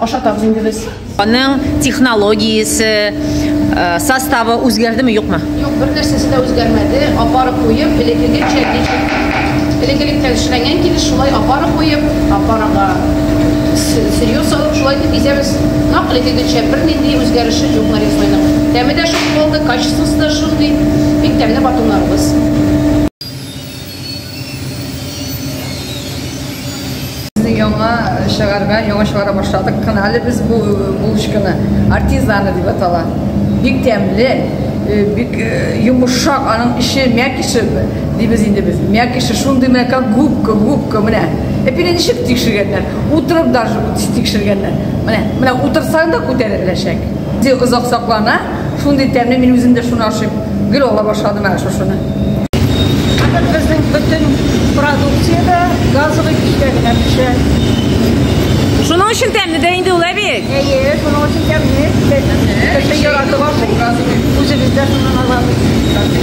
Ашатабыз инде без. Аның технологиясе, э, составы үзгәрдеме, юкмы? Юк, бер нәрсәсе дә үзгәрмәде. Апарып куеп, элеккегечә ничек элеккелектән эшләнгән килеш шулай апарып куеп, апарага сырье салып шулай итеп изәбез. Нак элеккегечә бернинди үзгәреше юк нарезойның. Тәме дә шундый калды, качествосы да шундый. Бик тәмле батоннарыбыз. Яңа чыгарга, яңа чыгара башладык кына әле без бу булочканы. Артизаны дип атала. Бик тәмле, э, бик э, йомышак, аның эче мякиши дибез инде без. Мякиши шундый менә как губка, губка менә. Әпиле ничек тикшергәннәр? Утырып даже тикшергәннәр. Менә, менә утырсаң да күтәреләчәк. Озак саклана. Шундый тәмле, мин үзем дә шуны ашыйм. Гел ала башладым әле шушыны. Хәзер безнең бөтен продукция дә газовый печкә генә пешә. Шуның өчен тәмле дә инде ул әби. Әйе, шуның өчен тәмле. Кеше яратып ашый. Үзебез дә шуннан алабыз.